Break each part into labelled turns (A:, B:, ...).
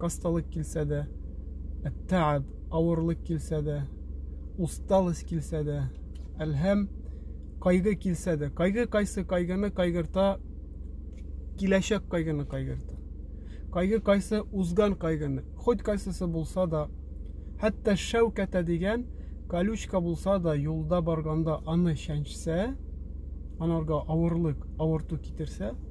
A: Осталык килсә дә, әттәәб, авырлык килсә дә, усталость килсә дә, әлһәм, кайгы килсә дә, кайгы кайсы кайгыны кайгырта, киләчәк кайгыны кайгырта. Кайгы кайсы узган кайгыны, хоть кайсысы булса да, хәтта шәүкәтә дигән колючка булса да, юлда барганда аны чәнчсә, анарга авырлык, авырту китерсә,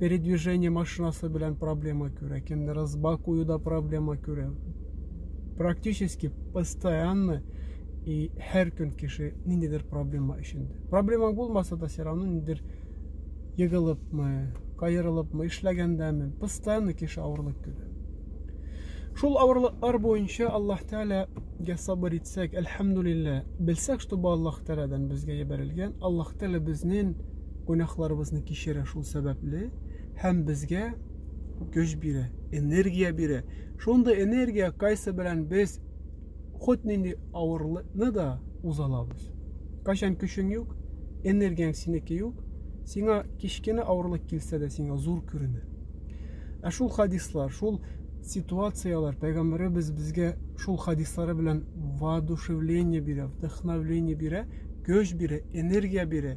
A: передвижение машинасы белән проблема күрә, кемдер ызба куюда проблема күрә. Практически постоянно и һәр көн кеше ниндидер проблема эчендә. Проблема булмаса да все равно ниндидер егылыпмы, кайырылыпмы, эшләгәндәме, постоянно кеше авырлык күрә. Шул авырлыклар буенча Аллаһ Тәгаләгә сабыр итсәк, әлхәмдулиллә, белсәк, что бу Аллаһ Тәгаләдән безгә ебәрелгән, Аллаһ Тәгалә безнең гөнаһларыбызны кичерә шул сәбәпле һәм безгә көч бирә, энергия бирә. Шундый энергия кайсы белән без ход нинди авырлыкны да уза алабыз. Кайчан көчең юк, энергияң синеке юк, сиңа кечкенә авырлык килсә дә сиңа зур күренә. Ә шул хадислар, шул ситуацияләр пәйгамбәребез безгә шул хадислары белән воодушевление бирә, вдохновление бирә, көч бирә, энергия бирә.